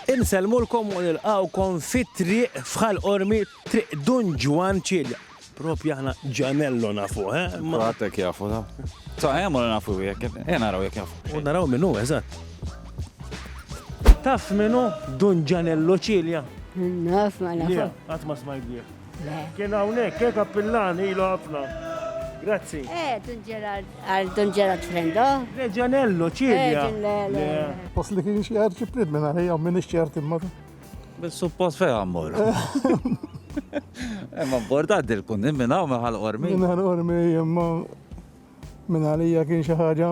Insellmulkom u nilqgħukom fit-triq f'Ħal Qormi, Triq Dun Ġwann Cilia. Propju aħna Ġanello nafuh, eh? Imma Għatek jafu, ta. Ta' hemm u nafu jekk, eh naraw jekk jafu. u naraw min hu, eżatt. Taf min hu Dun Ġanello Cilia? Naf ma Le, nafux. qatt ma smajt bih. Le. Kien hawnhekk hekk appillan ilu ħafna. Grazzi. Eh, Don Gerard, għal Don Gerard Frendo. Le Ġanello, ċilja. Post li kien xi għarċi prid minn għalija minn ixċert imma. Bil-suppost fejn għammur. Imma borda għaddi l-kundim minna u meħal ormi. Minna ormi, imma Minn għalija kien xi ħaġa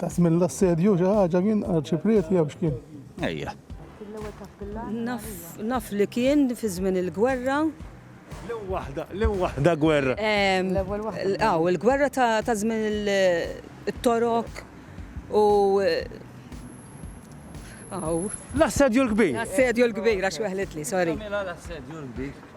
ta' żmien l-assedju xi ħaġa kien arċipriet jew x'kien. Ejja. Naf li kien fi żmien il-gwerra. L-ewwel waħda, l-ewwel waħda gwerra. L-ewwel waħda. Aw, il-gwerra ta' żmien il-torok u Aw. L-assedju l-kbir. L-assedju l-kbir, għax weħlet li, sorry. L-assedju l-kbir.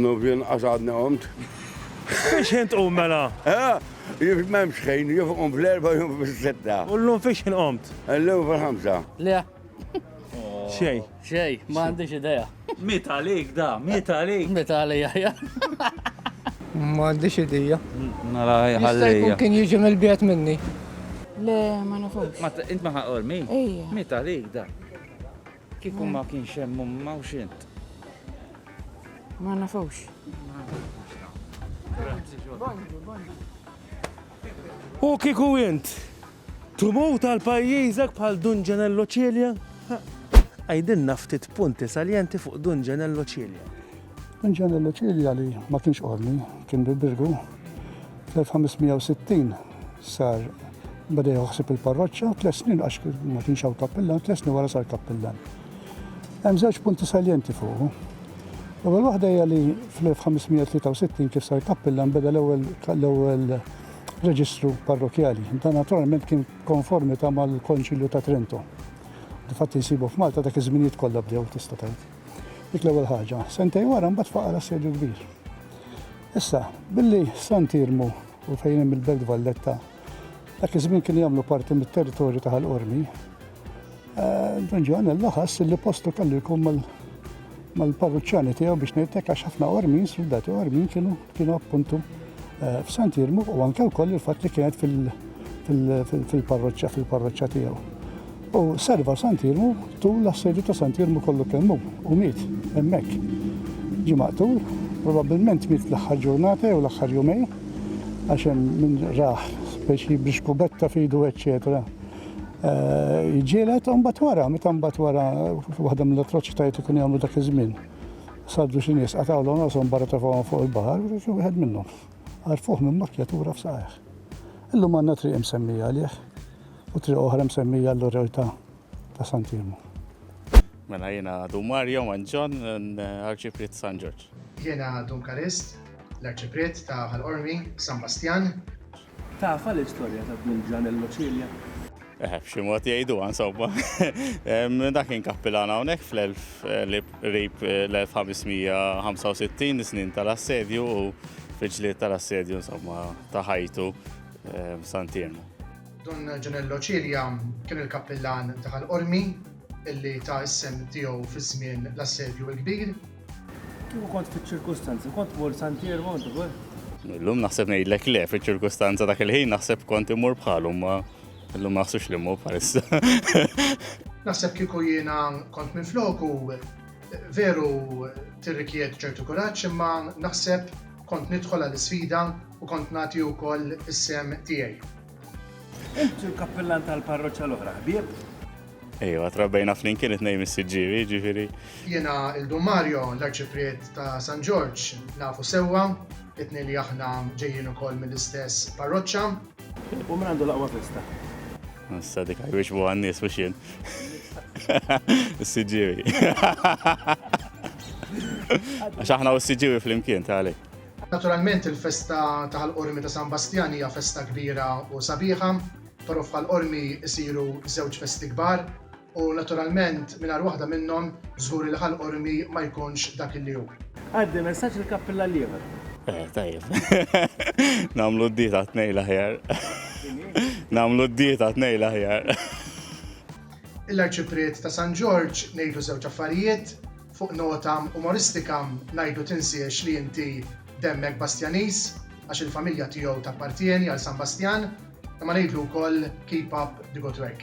Nuf jinqas għadni qomt. Fiex ħin tqum mela? Jif memx ħin, jif qum fl-erba jum fil-sitta. U l-lum fiex ħin qomt? L-lum fil-ħamsa. Le. Xej. Xej, ma għandix ideja. Mit għalik da, mit għalik. Mit għalija, ja. Ma għandix ideja. Nara ħallija. Kien jiġi mill-biet minni. Le, ma nafux. Ma int ma ħaqor mi? Mit għalik da. Kieku ma kienx hemm umma u xint. Ma nafux. U kieku int tmur tal-pajjiżek bħal Dun Ġenello Cilia? Għajdilna ftit punti saljenti fuq Dun Ġenello Cilia. Inġenja Luċilja li ma kienx qormi, kien bil-birgu, fl-1560 sar bada joħsib il-parroċċa, tles snin għax ma kienx hawn kappillan, tles snin wara sar kappillan. Hemm żewġ punti saljenti fuq. L-ewwel waħda hija li fl-1563 kif sar kappillan beda l-ewwel l-ewwel reġistru parrokjali. Dan naturalment kien konformita mal-Konċilju ta' Trento. Difatti nsibu f'Malta dak iż-żminijiet kollha bdew tista' tgħid. Dik l-ewwel ħaġa. Sentej wara mbagħad faqar assedju kbir. Issa, billi San Tirmu u fejn hemm il-Belt Valletta, dak iż-żmien kien jagħmlu parti mit-territorju ta' Ħal-Qormi, eh, Don Ġoħan laħas li postu kellu jkun mal-parruċċani tiegħu biex ngħidlek għax ħafna Qormin, soldati Qormin kienu kienu appuntu eh, f'San Tirmu u anke wkoll il-fatt li kienet fil-parroċċa fil-parroċċa tiegħu. U serva Sant Irmu tul l-assedju ta' Sant Irmu kollu kemm hu u miet hemmhekk. Ġie maqtul, probabbilment miet l-aħħar ġurnata jew l-aħħar jumejn, għax hemm min rah speċi b'xkubetta f'idu eċċetera eh, jġielet, u mbagħad wara, meta mbagħad wara waħda mill-atroċitajiet li kienu jagħmlu dak iż-żmien. Saddu xi nies qatawlhom rashom barra tafawhom fuq il-baħar, wieħed minnhom. Għarfuh minn makkjatura f'saqajh. Illum għandna triq imsemmija għalih. u triq oħra msemmija għall-Urrew ta' ta' San Timu. Mela jiena Dun Mario Manġon, Arċipriet ta' San Ġorġ. Jiena Dun Kalist, l-Arċipriet ta' Ħal Qormi, San Bastjan. Tafha l-istorja ta' Dun Ġanello Cilia? Eħe, b'xi mod jgħiduha insomma. Dak kien kappilan hawnhekk fl-qrib l-1565 snin tal-assedju u fil-ġlied tal-assedju insomma ta' ħajtu San Timu. Dun Ġanello Cilia kien il-kappillan ta' Ħal Qormi illi ta s-sehem tiegħu fi żmien l-Assedju il-Kbir. Kieku kont fiċ-ċirkustanzi, kont tmur San Pier Monte Vue? Illum naħseb ngħidlek le, fiċ-ċirkustanza dak il-ħin naħseb kont imur bħalhom ma illum ma naħsux li mmur bħalissa. Naħseb kieku jiena kont minn floku veru tirrikjed ċertu kuraġġ imma naħseb Kont nidħol għal isfida u kont nagħti wkoll is-sehem tiegħi. Int il-kappillan tal-parroċċa l-oħra, ħbieb? Ejwa, trabbejna flimkien it-nej mis-siġġiri, ġifiri. Jena il-Dum Mario, l-arċipriet ta' San Ġorġ, nafu sewa, it-nej li aħna ġejjin ukoll mill-istess parroċċa. U min għandu l-aqwa festa? Nassa dik għaj biex buħan nis biex jien. S-sġiwi. Għax aħna u s-sġiwi fl-imkien, tali. Naturalment il-festa taħal qormi ta' San Bastjan hija festa kbira u sabiħa. Torof bħal qormi isiru żewġ festi kbar. U naturalment mingħajr waħda minnhom żgur li Ħal Qormi ma jkunx dak li hu. Għaddi messaġġ lil Kappilla l-ieħor. Eh, tajjeb. Namlu d-dieta tnej l-aħjar. Namlu d-dieta tnej l-aħjar. Il-arċipriet ta' San Ġorġ ngħidu żewġ affarijiet, fuq nota umoristika ngħidu tinsiex li inti demmek Bastjaniż għax il-familja tiegħu tappartieni għal San Bastjan, imma ngħidlu wkoll keep up the good work.